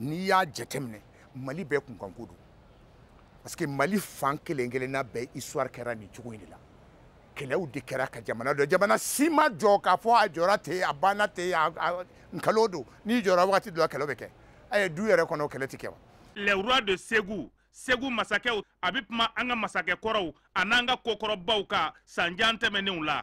n'i y'a jateminɛ mali bɛɛ kunkanko don parce que mali fan kelen kelenna bɛɛ histoire kɛra nin cogo in de la kɛlɛw de kɛra ka jamana jɔ jamana si ma jɔ k'a fɔ a jɔra ten a banna ten nkalo don n'i jɔra wagati dɔ la kɛlɛw bɛ kɛ a ye du yɛrɛ kɔnɔ kɛlɛ ti kɛ wa les rois de segu segu masakɛw a bɛ kuma an ka masakɛ kɔrɔw a n'an ka kokɔrɔbaw ka sanjan tɛmɛnenw la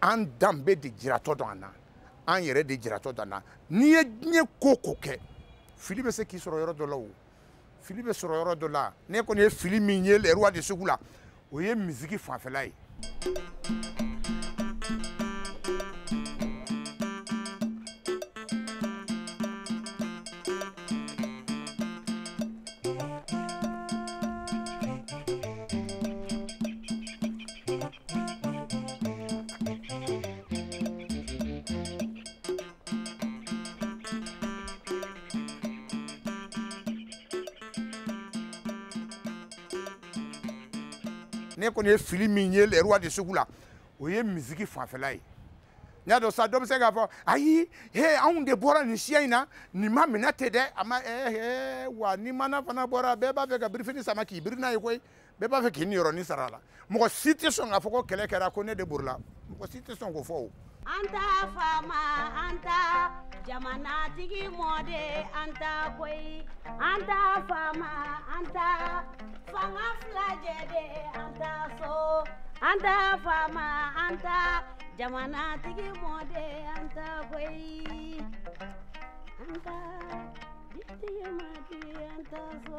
an danbe de jiratɔ don an na an yɛrɛ de jiratɔ don an na n'i ye diɲɛ ko o ko kɛ fili bɛ se k'i sɔrɔ yɔrɔ dɔ la o fili bɛ sɔrɔ yɔrɔ dɔ la ne kɔni ye fili min ye les rois de segu la o ye miziki fanfɛla ye ne kɔni ye fili min ye les rois de segu la o ye miziki fanfɛla ye n y'a dɔn sa dɔ bɛ se k'a fɔ ayi he anw de bɔra nin siya in na nin ma minɛ ten dɛ a ma ee wa ni maana fana bɔra bɛɛ b'a fɛ ka birifini sama k'i biri n'a ye koyi bɛɛ b'a fɛ k'i niyɔrɔnin sara a la mɔgɔ si tɛ sɔn k'a fɔ ko kɛlɛ kɛra ko ne de borila mɔgɔ si tɛ sɔn k'o fɔ o an ta faama an ta jamanatigi mɔden an ta koyi an ta faama an ta fanga fila jɛ de an ta so an ta faama an ta jamanatigi mɔden an ta koyi an ta bitigi mɔden an ta so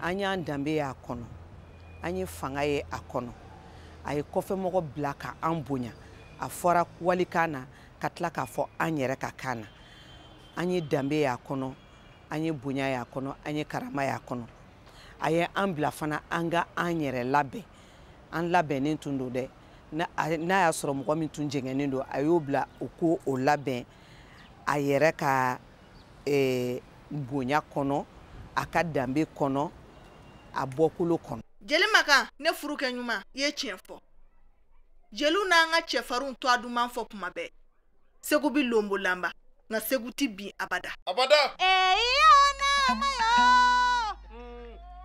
an y'an danbe y'a kɔnɔ an ye fanga ye a kɔnɔ a ye kɔfɛmɔgɔ bila ka an bonya a fɔra walikan na ka tila k'a fɔ an yɛrɛ ka kan na an ye danbe y'a kɔnɔ an ye bonya y'a kɔnɔ an ye karama y'a kɔnɔ a ye an bila fana an ka an yɛrɛ labɛn an labɛnnen tun don dɛ n'a y'a sɔrɔ mɔgɔ min tun jɛngɛnnen don a y'o bila o k'o labɛn a yɛrɛ ka eh, bonya kɔnɔ a ka danbe kɔnɔ a bɔkolo kɔnɔ jeli makan ne furukɛ ɲuman i ye tiɲɛ fɔ jeliw n'an ka cɛfarinw tɔgɔ duman fɔ tuma bɛɛ segu bi lonbo lanba nka segu ti bin abada abada ee,